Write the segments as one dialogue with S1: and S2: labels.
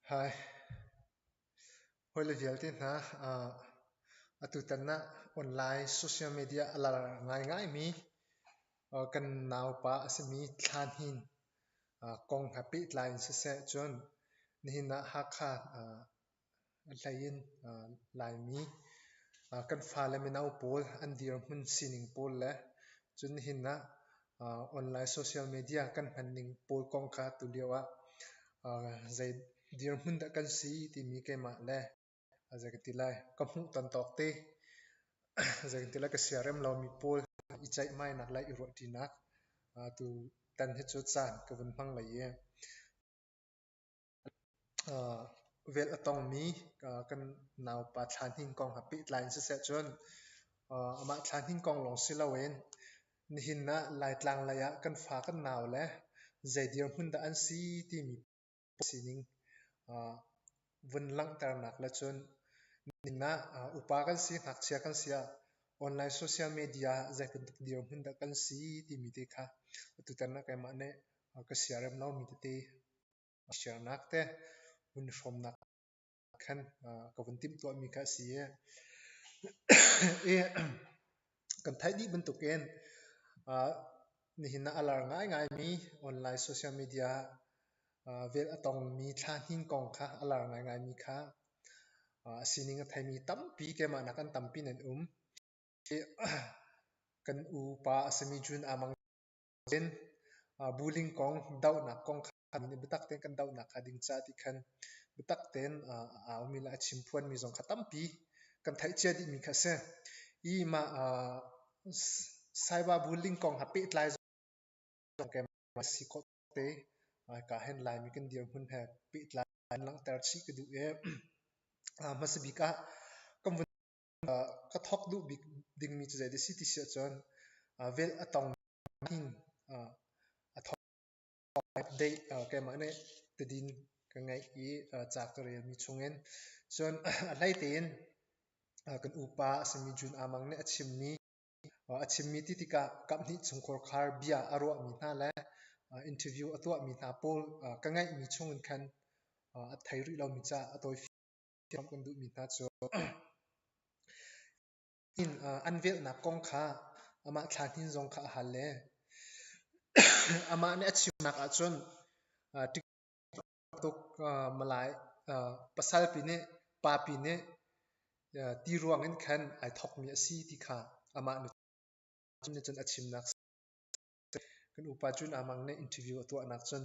S1: Hawile vialte hna, atutan ah online social media a lar ngaingaimi kan naupa asimi Thlanhin kong he pehtlai in siseh cun nihin ah Hakha Hlei in Laimi kan fale mino pawl an dirhmun sining pawl le cun hi nak online social media kan hmanning pawl kong kha atu lio ah zei dirhmun dah kan si timi keimah le zei ka ti lai ka hmuh tontawk te zei ka ti lai ka siarem lomi pawl i ceihmainak le i ruahṭinak atu tan hi cu caan ka vun hmang lei i. Vel a tongmi kan naupa thlahning kong he pehtlai in siseh cun amah thlahning kong lawng si loin nihin ah Laitlang lei ah kan fa kan nau le zei dirhmun dah an si timi sining vun langhternak le cun nihin ah upa kan si, ngakchia kan si ah online social media ah zeibantuk dirhmun dah kan si timi te kha atutan ah keimah nih ka siarem lomi tete. a siarnak te vun i hrawmnak khan ka vun timhtuahmi kha a si i i kan theih dih bantukin nihin ah a lar ngaingaimi online social media vel a tongmi thlahning kong kha a lar ngaingaimi kha a sining a theimi tampi keimah nak an tampi nan um hi kan upa a simi June Amang Bullying kong dohnak kong kha nih biatak tein kan dohnak kha ding caah ti khan biatak tein a ummi le a chim phuanmi zong kha tampi kan theihcia dihmi kha a si. I mah cyber bullying kong ha pehtlai zong a si khawh te. Ka hen Laimi kan dirhmun he pehtlai in langhter chih ka duh i hmasa bik ah kan vun ka thawk duh bik dingmi cu zeidah a si ti si ahcun velh a tong ning a thawk update keimah nih tadin ka ngeih i ca ka relmi chungin cun a hlei tein kan upa a simi Jun A Mang nih a chimmi a chimmi ti tikah kaphnih chungkhar khar bia a ruahmi hna le interview a tuahmi hna pawl ka ngeihmi chungin khan a thei rih lomi ca a tawi Inn an velhnak kong kha amah thlahnin zong kha a hal le amah nih a chimnak ahcun tuk pasalpi nih papi nih ti ruang in khan ai thawkmi a si ti kha amah nih cun a chimnak a si. Kan upa cun aa mang nih interview a tuahnak cun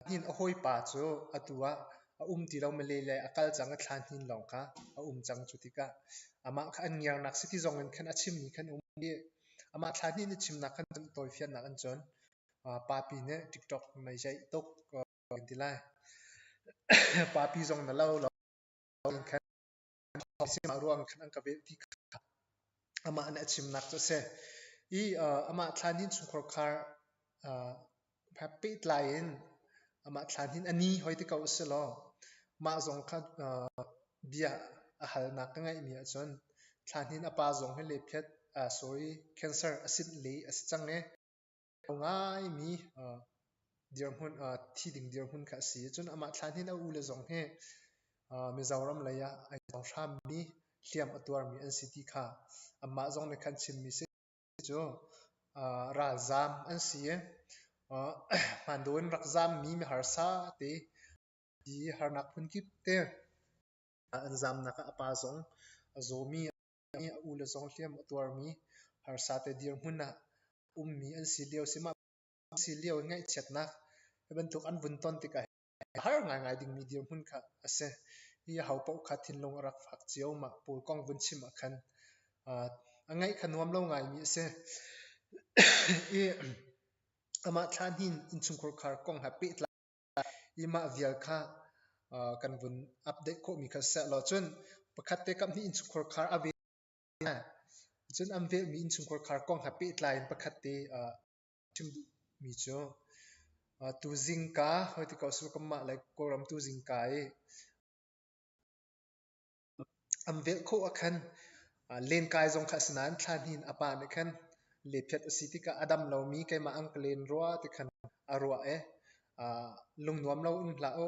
S1: Pahnih a hawipa cu atu ah a um ti lo. Malay lei a kal cang a thla hnin lawng kha a um cang. Cu tikah amah kha an ngiarnak siki zong in khan a chimmi khan a um i amah thla hnih in i chimnak khan an tawifiannak an cawn. Papi nih TikTok mei ceih tuk kan ti lai. Papi zong na lo lo in khan a thawng si mah ruang khan an ka velh ti kha amah nih a chimnak cu a si i amah thlanhin chungkhar khar pehtlai in amah thlanhin a ni hoi ti ko a si law mah zong kha bia a halnak ka ngeihmi ahcun thlanhin a pa zong hi lephiat sorry cancer acid lei a si cang i a ngaimi dirhmun thi ding dirhmun kha a si. Cun amah thlaan hin a ule zong hi Mizoram lei ah ai cang hrammi, hliam a tuarmi an si ti kha amah zong nih khan chimmi a si. Cu ralzaam an si i hmandaw in rak zaammi miharsa te i harnak hmun kip te an zaamnak ah a pa zong a zawmi i a u le zong hliam a tuarmi harsate dirhmun ah ummi an si lio sihmahsi lio in ngaihchiatnak hi bantuk an vun ton tikah a har ngaingai dingmi dirhmun kha a si. Hi aho paoh kha thinlung a rak fak cio. Mah pawl kong vun chim ahkhan a ngaih kha nuam lo ngaimi a si. I amah thla hnih innchungkhar kong he pehtlai i mah vial kha kan vun update khawhmi kha sihlaw cun pakhat te kam hnih innchungkhar khar a vel cun an velmi innchungkhar khar kong he pehtlai in pakhat te chim duhmi cu tuzingka hoi ti ko su kanmah le kawlram tuzingka i An velh khawh ah khan lenkai zong kha a si nain thlahnin a pa nih khan lephet a si tikah a dam lomi keimah an ka len rua ti khan a ruah i lungnuam loin hlah u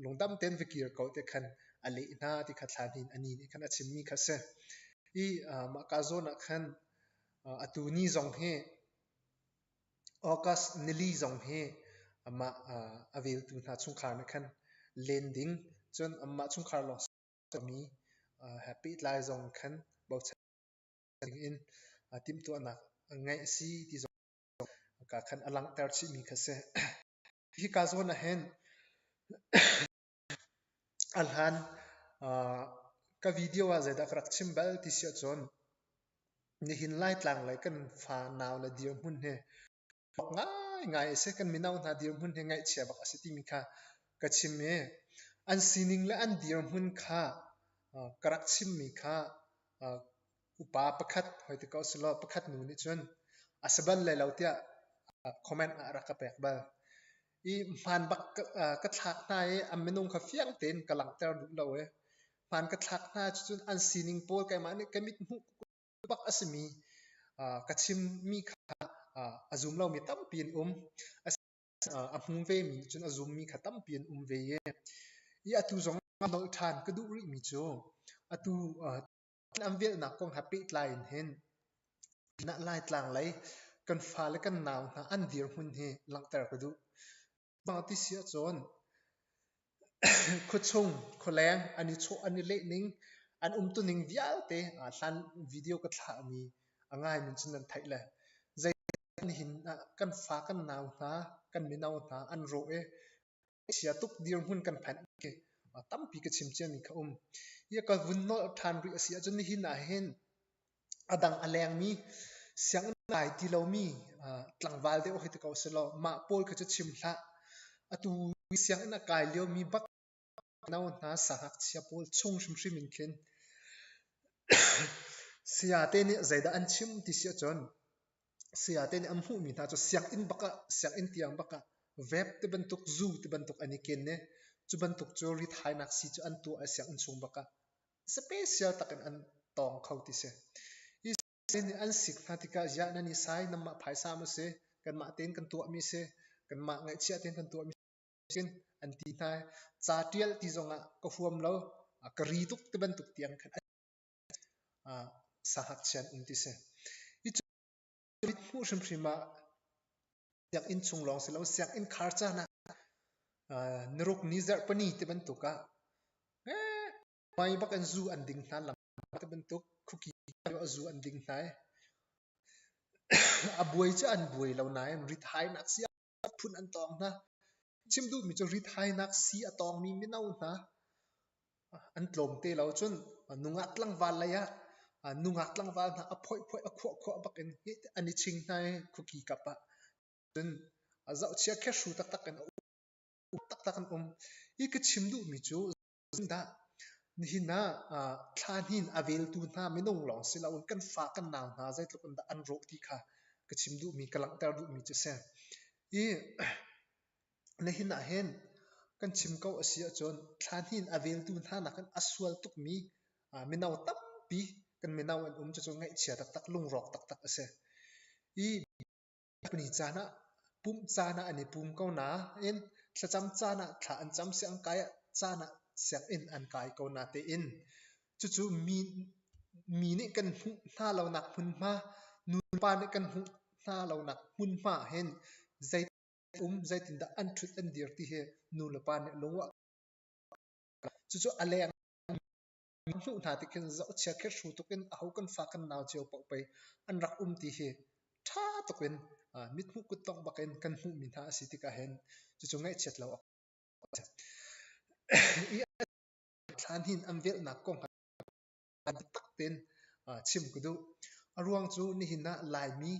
S1: lungdam tein va kir ko ti khan a leh hna ti kha thlahnin a ni nih khan a chimmi kha a si. I mahka zawn ah khan atu ni zong hi August nili zong hi amah a veltu hna chungkhar nih khan len ding cun amah chungkhar lawng mi he pehtlai zong khan bochan dingin timhtuahnak ngeih a si ti zong kaa khan a langhter chihmi kha a si. Hika zawn ahhin A hlan ka video ah zeidah ka rak chim bal ti si ahcun nihin Laitlang lei kan fa nau le dirhmun hi ngaingai a si. Kan mino hna dirhmun hi ngaihchia bak a si timi kha ka chim i an sining le an dirhmun kha ka rak chimmi kha upa pakhat hoi ti ko selaw pakhat nu nih cun a si bal lai lo tiah comment ah a rak ka pek bal. i hmaan bak ka thlak hna i an minung kha fiang tein ka langhter duh lo i hmaan ka thlak hna cucun an sining pawl keimah nih ka mit hmuh bak a simi ka chimmi kha a zum lomi tampi an um a hmu vemi cun a zummi kha tampi an um ve i atu zong nolh ṭhan ka duh rihmi cu atu An velhnak kong he pehtlai in hin pinah Laitlang lei kan fale kan nau hna an dirhmun hi langhter ka duh. Mah ti si ahcun khuachung, khualeng an i chawh an i lehning an umtuning vialte aa hlan video ka thlahmi a ngaimi cun an theih le nihin ah kan fa, kan nau hna, kan mino hna an rawh i chia tuk dirhmun kan phanh khi tampi ka chim ciami kha um. Ia ka vun nolh ṭhan rih a si ahcun nihin ahhin a dang a lengmi sianginn nai ti lomi tlangval deuh hi ti ko selaw mah pawl kha cu chim hlah. Atu i sianginn a kai liomi bak no hna sangakchia pawl chung hrimhrim in khin saya te nih zeidah an chim ti si ahcun Saya te nih an hmuhmi hna cu sianginn bak ah, sianginn tiang bak ah vep ti bantuk, zu ti bantuk an i ken i cu bantuk cu rithainak sii cu an tuah i sianginn chung bak ah special tak in an tawng kho ti si. Hi sii nih an sik hna tikah ziah nan i sai, nanmah phaisa maw si, kanmah tein kan tuahmi si, kanmah ngaihchia tein kan tuahmi si an ti hna i ca tial ti zong ah ka huam lo, ka ri tuk ti bantuk tiang khan. Sahngakchia an um ti si. Hi cu mit hmuh hrimhrim ah sianginn chung lawng si lo, sianginn khar caan ah narukni zarhpani ti bantuk ah hmai bak in zu an ding hna, lam ti bantuk khuki a zu an ding hna i a buai cu an buai lo nain rithainak si ah phun an tawng hna. Chim duhmi cu ritainak sii a tawngmi mino hna an tlawm te lo cun nungak tlangval lei ah nungak tlangval hna a phoihphoih a khuahkhuah bak in an i ching hna i khuki kap ah. Cun zohchia khehru taktak in a um taktak an um. Hi ka chim duhmi cu Dah nihin ah ah thla hnin a veltu hna minung lawng si loin kan fa kan nau hna zeitluk in dah an rawh ti kha ka chim duhmi ka langhter duhmi cu si. I nihin ah hin kan chim ko a si ahcun thla hnin a veltu hna nakin a sual tukmi ah mino tampi kan mino an um cucu ngaihchia taktak lungrawk taktak a si. I Miphuni caan ah pumh caan ah an i pum ko nain thlacam caan ah thla an cam siah an kai ah caan ah sianginn an kai ko na tiin cucu mi nih kan hmuh hna lonak hmunhma nupa nih kan hmuh hna lonak hmunhma ahhin zei um zeitindah an ṭhut an dir ti hi nu le pa nih lung a cucu a leng. Kan hnuh hna tiin khin zohchia khirhru tuk in aho kan fa kan nau cio paoh pei an rak um ti hi ṭha tuk in mithmuh kuttongh bak in kan hmuhmi hna asi tik ahhin cucu ngaihchiat lo awk a si. I thlahninh an velhnak kong ah biatak tein chim ka duh. Aruang cu nihin ah Laimi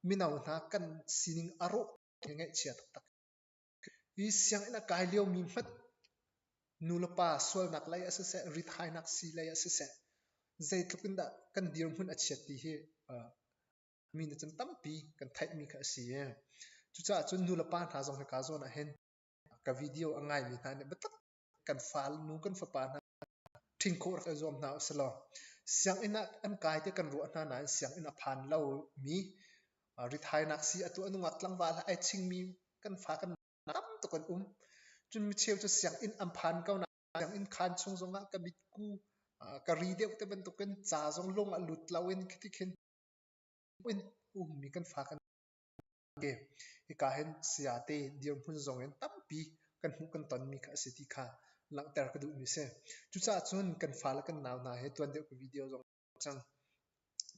S1: mino hna kan sining a rawh ngaihchia taktak. Hi sianginn a kai liomi hmanh nulepa sualnak lei ah siseh, rithainak sii lei ah siseh, zeitluk in dah kan dirhmun a chiat ti hi mi nih cun tampi kan theihmi kha a si i cucaah cun nulepa hna zong hika zawn ahhin ka video a ngaimi hna nih biatak kan fale nu kan fapa hna ṭhin khawh rak i zuam hna u silaw sianginn ah an kai tiah kan ruah hna nain sianginn a phan lomi rithainak sii a tuah nungak tlangval ah ai chingmi kan fa kan tam tuk an um cun micheu cu sianginn an phan ko nain sianginn khan chung zongah ka mitku ka ri deuh te bantukin ca zong lung a lut lo in khiti khin in ummi kan fa kan Hika hin sayate dirhmun zongin tampi kan hmuh kan tonmi kha a si ti kha langhter ka duhmi si. Cucaah cun kan fa le kan nau hna he tuan deuh ka video zong cang.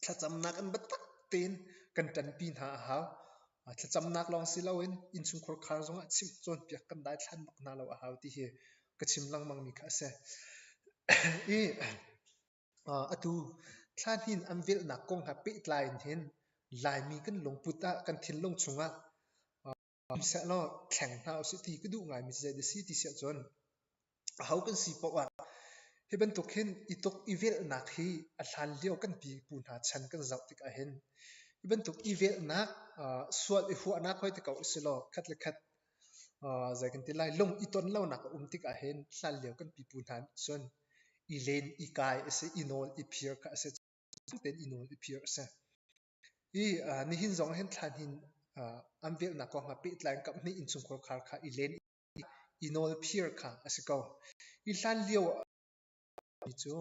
S1: Thlacamnak in biatak tein kan ṭanpi hna a hau. Thlacamnak lawng si loin innchungkhar khar zongah chim cawnpiak kan daithlan bak hna lo a hau ti hi ka chim lengmangmi kha a si. I Atu thlahnin an velhnak kong he pehtlai in hin Laimi kan lungput ah kan thinlung chungah sihsehlaw thleng hna usih ti ka duh ngaimi cu zeidah a si ti si ahcun aho kan si paoh ah hi bantuk hin ituk ivelhnak hi a hlan lio kan pipu hna chan kan zoh tik ahhin hi bantuk ivelhnak sual ihuahnak hoi ti ko usihlaw khat le khat zei kan ti lai lung i ton lonak a um tikah hin hlanlio kan pipu hna nih cun i len i kai a si i nawl i phir kha a si cutin i nawl i phir a si i nihin zong hin thlahnin an velhnak kong ah pehtlai in kaphnih innchungkhar khar kha i len i nawl phir kha a si ko i hlanlio Mi cu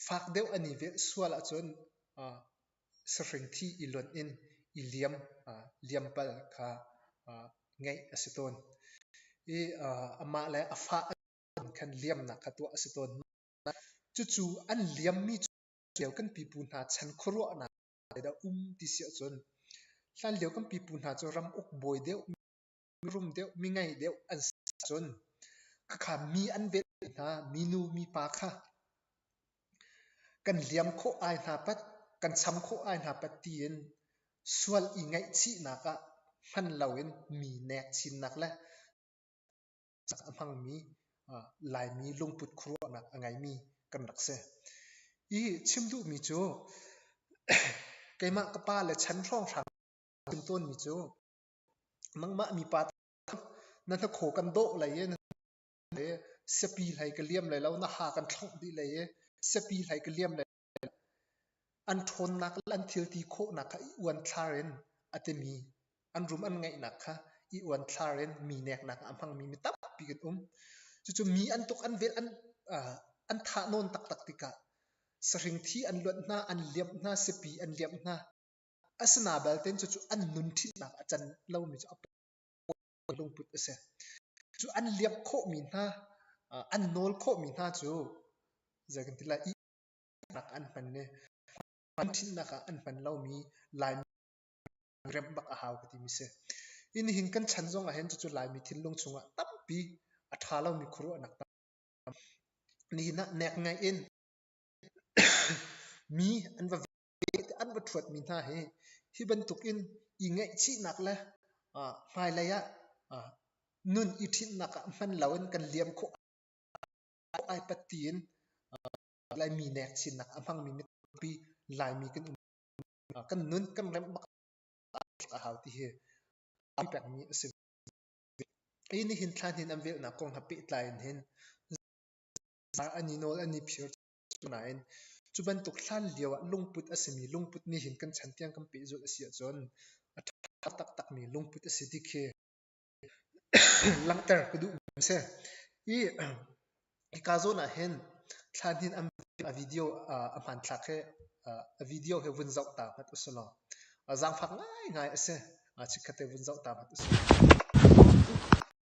S1: fak deuh an i velh sual ahcun sahrangthi i lonh in i liampal kha ngeih a si tawn i amah le a fa khan liamnak kha tuah a si tawn. Cucu an liammi cu hlanlio kan pipu hna chan khuaruahnak dah um ti si ahcun hlanlio kan pipu hna cu ram uk bawi deuh mirum deuh mingei deuh an si ahcun khakha mi an velh hna minu mipa kha kan liam khawh ai hna pat kan cham khawh ai hna pat tiin sual i ngaihchihnak ah hman loin mi nek chinnak le a hmangmi laimi lungput khuaruahnak a ngeimi kan rak si i chim duhmi cu keimah ka pa le chan hrawnghrang chim tawnmi cu Nangmah mipa na hnakhaw kan dawh lai i siapi hlei ka liam lai lo, na ha kan thlongh dih lai i siapi hlei ka liam lai lo. An ṭhawnnak le an thilti khawhnak kha i uanthlar in a timi, an rum an ngeihnak kha i uanthlar in mi neknak ah a hmangmi mi tampi kan um. Cucu mi an tuk an velh an thah nawn taktak tikah sahringthi an luanh hna, an liamh hna, siapi an liamh hna. Asina balte cucu an nun ṭhinhnak a can lomi cu a pawi lungput a si. Cucu an liamh khawhmi hna, an nawl khawhmi hna cu zei kan ti lai, ihnak ah an hman i an ṭhinhnak ah an hman lomi Laimi remh bak a hau ka timi a si.
S2: Hi nihin kan chan zong ahhin cucu Laimi thinlung chungah tampi a ṭha lomi khuaruahnak tam. Nihin ah nek ngai in mi an va tehte an va ṭhuatmi hna hi, hi bantukin i ngaihchihnak le hmailei ah nun i ṭhinhnak ah hman loin kan liam khawh ai pat tiin Laimi nekchinnak a hmangmi mitampi Laimi kan um kan nun kan remh bak a hau ti hi a pekmi a si. Kei nihin thla hnin an velhnak kong he pehtlai in hin zar an i nawl an i phir Nain, cu bantuk hlanlio ah lungput a simi lungput nih hin kan chan tiang kan pehzulh a si ahcun a ṭha taktakmi lungput a si ti khi langhter ka duhmi a si. I hika zawn ah hin thlanhin an a video a hmanthlak hi a video hi vun zoh ta hmat usulaw zaangfak ngaingai a si. Chikkhat he vun zoh ta hmat usulaw.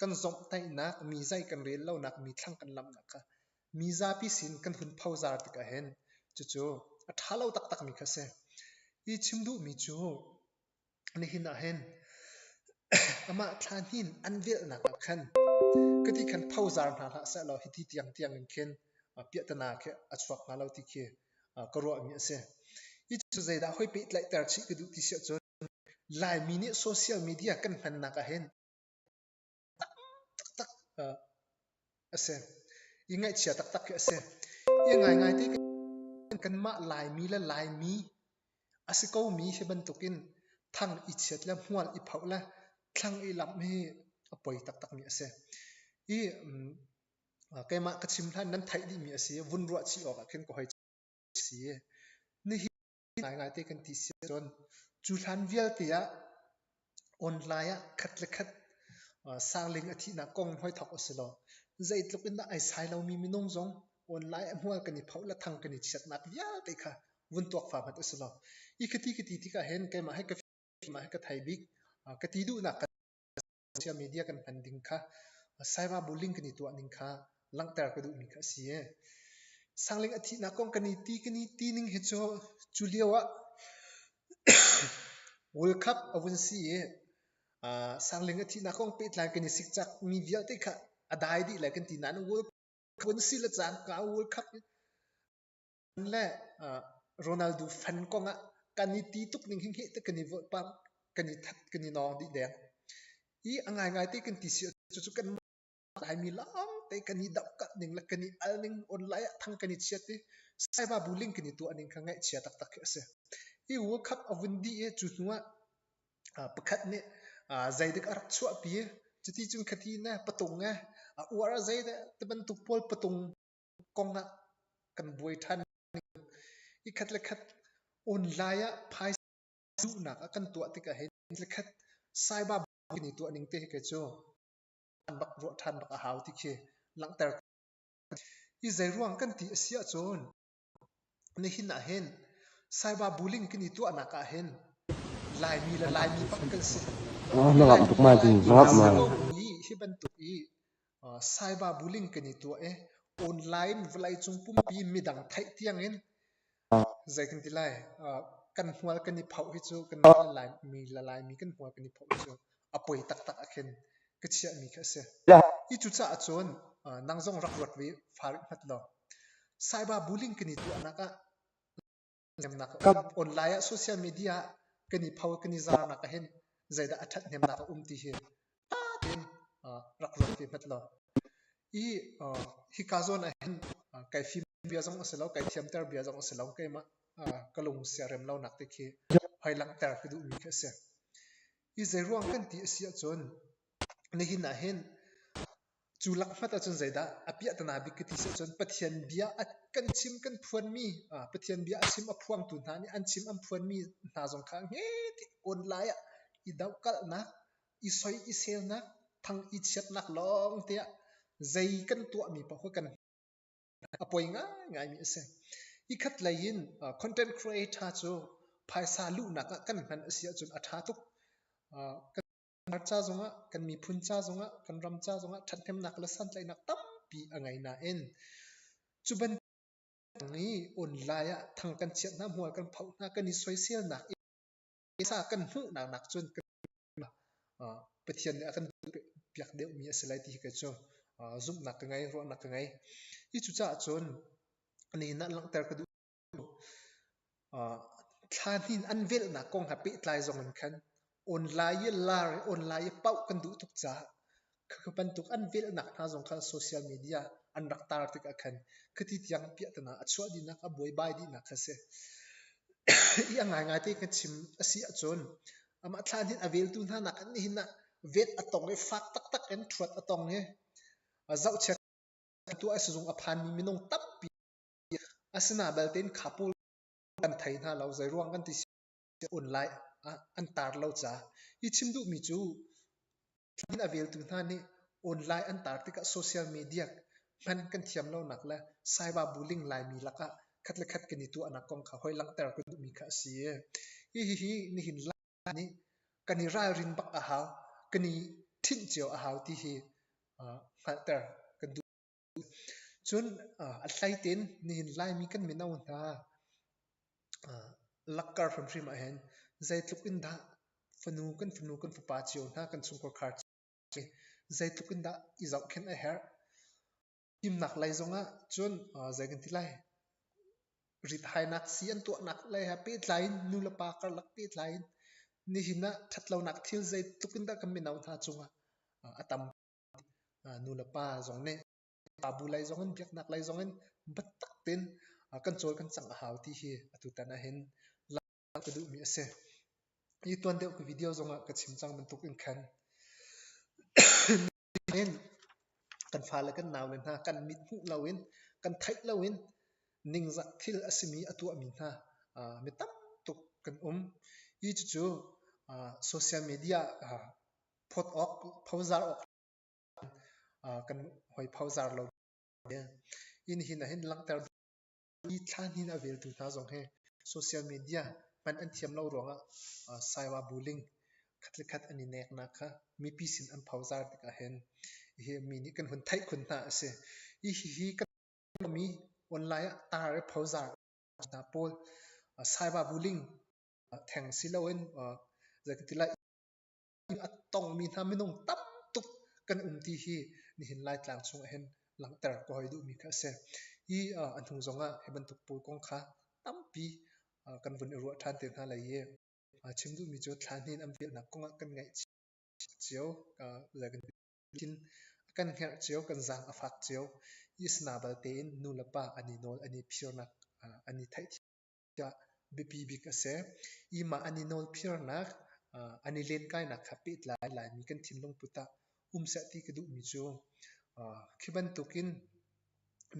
S1: Kan zomhtaihnak, mizai kan rel lonak, mithlang kan lamhnak kha mizapi sin kan hun phozar tik ahhin cucu a ṭha lo taktakmi kha a si. Hi chim duhmi cu nihin ahhin amah thlahnin an velhnak ah khan kati khan phozar hna hlah sehlaw hiti tiangtiang in khin piahtana khi a chuak hnga lo ti khi ka ruahmi a si. Hi cu zeidah hoi pehtlaihter chih ka duh ti si ahcun Laimi nih social media kan hmannak ahhin taktak asi. I ngaihchia taktak khi asi. I ngaingai te kanmah Laimi le Laimi asi komi hi bantukin thang i chiat le hmual i phoh le thlang i lamh hi a poi taktakmi asi. I keimah ka chim hlan nan theih dihmi asi i vun ruah chih awkah khin ka hoi chim. Nihin ngaingai te kan ti siah cun cu hlan vialte ah online ah khat le khat sarling a thihnak kong hoi thawk a si lo. Zeitluk in dah ai sai lomi minung zong online a hmual kan i phoh le thang kan i chiatnak vialte kha vun tuak fa hmat a si lo. Hi kati kati tikah hin keimah he ka fim, keimah he ka thai bik, ka ti duhnak ka social media kan hman ding kha cyber bullying kan i tuah ning kha langhter ka duhmi kha a si i sangling a thihnak kong kan i ti kan i ti ning hi cu cu lio ah world cup a vun si i sangling a thihnak kong pehtlai kan i sikcak mi vialte kha a dai dih lai kan ti nain world cup vun si le caan ka world cup Fan le uh, Ronaldo fan kong ah kan i ti tuk ning hing hi te kan i voih pam kan i that kan i nong dih deng i a ngai ngai te kan ti si cu cu kan lai mi long te kan i dap ka ning le kan i al ning online ah thang kan i chiat i saiba bullying kan i tuah ning kha ngaih chia tak tak khi a si hi World Cup a vun di e cu hnu ah uh, pakhat nih uh, zeidik a rak chuah pi cuti cun khathi ne patung e a uar a zei de te bantuk pawl patung kong ah kan buai ṭhan i khat le khat online ah phaisa duhnak a kan tuah tikah hin le khat saiba kan i tuah ning te hi kei cu an bak ruah ṭhan bak a hau ti khi langhter hi zei ruang kan ti a si ahcun
S2: Nihin ah hin Saiba bullying kan i tuahnak ah hin Laimi le Laimi bak kan si. Na ngah tuk mai ding, na ngah tuk mai. Hi bantuk i Saiba bullying kan i tuah i online vawleicung pumpi midang theih tiang in zei kan ti lai kan hmual kan i phoh hi cu kan Laimi le Laimi kan hmual kan i phoh hi cu a poi taktak ah khin ka chiahmi kha a si. Hi cucaah cun nang zong rak ruat ve farik hngat law cyber bullying kan i tuahnak ah online ah social media ah kan i pho kan i zarnak ah hin zeidah a ṭhat hnemnak a um ti hi ṭha tein rak ruat ve hngat law i hika zawn ah hin kai fim bia zong a si lo kai
S1: thiamter bia zong a si lo keimah ka lung siarem lonak te khi hoi langhter ka duhmi khi a si. Hi zeiruang kan ti a si ahcun nihin ah hin cu lakhmat ahcun zeidah a piahtana bik ka ti si ahcun Pathian bia a kan chim kan phuanmi Pathian bia a chim a phuangtu hna nih an chim an phuanmi hna zong kha ngetik awn lai ah i dohkalhnak, i soi i selnak, thang i chiatnak lawngte ah zei kan tuahmi paoh kha kan a poi ngaingaimi a si. Hi khat lei in content creator cu phaisa luhnak ah kan hman a si ahcun a ṭha tuk. Kan ca zongah, kan miphun ca zongah, kan ram ca zongah ṭhathnemnak le santlaihnak tampi a ngei nain cu bantuk i online ah thang kan chiah hna, hmual kan phoh hna, kan i soiselnak i sa kan hmuhnak nakcun Pathian nih a kan pek deuhmi a si lai ti khi cu zumhnak ka ngei, ruahnak ka ngei. Hi cucaah cun nihin ah langhter ka duh. Thla hnih an velhnak kong he pehtlai zongin khan online i lar i online i paoh kan duh tuk caah Kha kha bantuk an velhnak hna zong kha social media ah an rak tar tikah khan khati tiang piahtana a chuah dihnak a buaibai dihnak kha a si. I a ngaingai te kan chim a si ahcun amah thlaan hin a veltu hna nakin nihin ah vet a tong i fak taktak in ṭhuat a tong i zohchia tuah a si zung a phanmi minung tampi a si hna balte in khapul kan thei hna lo, zeiruang kan ti ka on lai ah an tar lo ca i chim duhmi cu thla a veltu hna nih online an tar tikah social media hman kan thiam lonak le saiba bullying laimi lakah khat le khat kan i tuahnak kong kha hoi langhter kan duhmi kha a si hihi nihin lai nih kan i ralrin bak a hau kan i ṭhinh cio a hau ti hi hngalhter kan duh Cun a hlei tein nihin Laimi kan mino hna lakkar hrimhrim ah hin zeitluk in dah fanu kan fanu kan fapa cio hna kan chungkhar khar cio zeitluk in dah i zohkhenh a herh. Fimnak lei zongah cun zei kan ti lai rithainak sii an tuahnak lei he pehtlai in nu le pa karlak pehtlai in nihin ah ṭhatlonak thil zeitluk in dah kan mino hna cungah a tam. Nulepa zong nih Ngaknu lei zong in biaknak lei zong in biatak tein kan cawl kan cang a hau ti hi atutan ahhin langhter ka duhmi a si. Hi tuan deuh ka video zong ah ka chim cang bantuk in khan kan fale kan naule hna kan mithmuh lo in kan theih lo in ningzak thil a simi a tuahmi hna mi tam tuk kan um. Hi cucu social media phawt awk, phozar awk kan hoi phozar lo ve. Inn hin ahin langhter i thla hnin a veltu hna zong hi social media hman an thiam lo ruangah saiwa bullying khatkhat an i neknak kha mipi sin an phozar tikah hin hihi mi nih kan hun theih khun hna a si. Hihi kan mi online ah tar i phozar hna pawl saiwa bullying theng si loin zeitintilah a tongmi hna minung tam tuk kan um ti hi nihin Laitlang chung ah hin langhter ka hoi duhmi kha a si. Hi a hnu zong ah hi bantuk puai kong kha tampi kan vun i ruah ṭhan te hna lai i chim duhmi cu thla hnih in an velnak kong ah kan ngaih cio le kan kan herh cio kan zaang a fak cio i sana bal tein nu le pa an i nawl an i phirnak an i theih tiah biapi bik a si. Ih mah an i nawlphiarnak, uh, an i lenkainak kha pehtlai Laimi kan thinlung put ah um seh ti ka duhmi cu uh, khi bantukin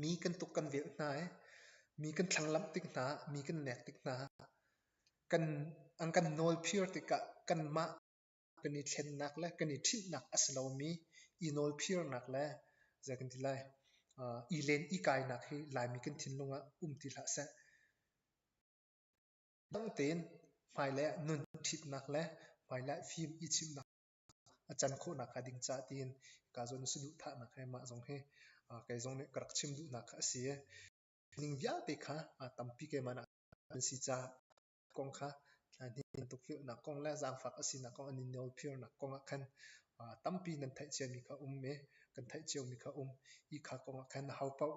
S1: mi kan tuk kan velh hna i mi kan thlanglamh tik hna, mi kan nek tik hna, kan an kan nawlphir tikah kanmah kan i thlennak le kan i ṭhinhnak a si lomi i nawlphirnak le zei kan ti lai uh, i len i kainak hi Laimi kan thinlung ah um ti hlah seh. Dang tein hmailei ah nun ṭhitnak le hmailei ah fim i chimnak a can khawhnak hnga ding caah tiin ka zawn si duh thahnak he mah zong hi uh, kai zong nih ka rak chim duhnak kha a si i ning vialte kha uh, tampi keimah nak an si caah kong kha hnihin tukforhnak kong le zaangfak a sinak kong an i nawlphirnak kong ah khan tampi nan theih ciami kha um i kan theih ciomi kha um. Hi kha kong ah khan ho paoh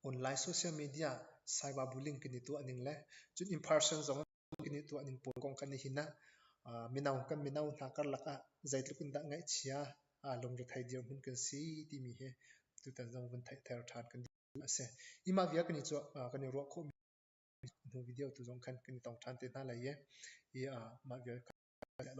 S1: online social media cyber bullying kan i tuahning le cun in person zong kan i tuahning pawl kong kan i hin ah mino kan mino hna karlak ah zeitluk in dah ngaihchia lungrethei dirhmun kan si timi hi tutan zong vun theihter ṭhan kan duh a si. Hi mah vial kan i ruah khawhmi Hnu video tu zong khan kan i tong ṭhan te hna lai i mah vial kha kan chiah lo.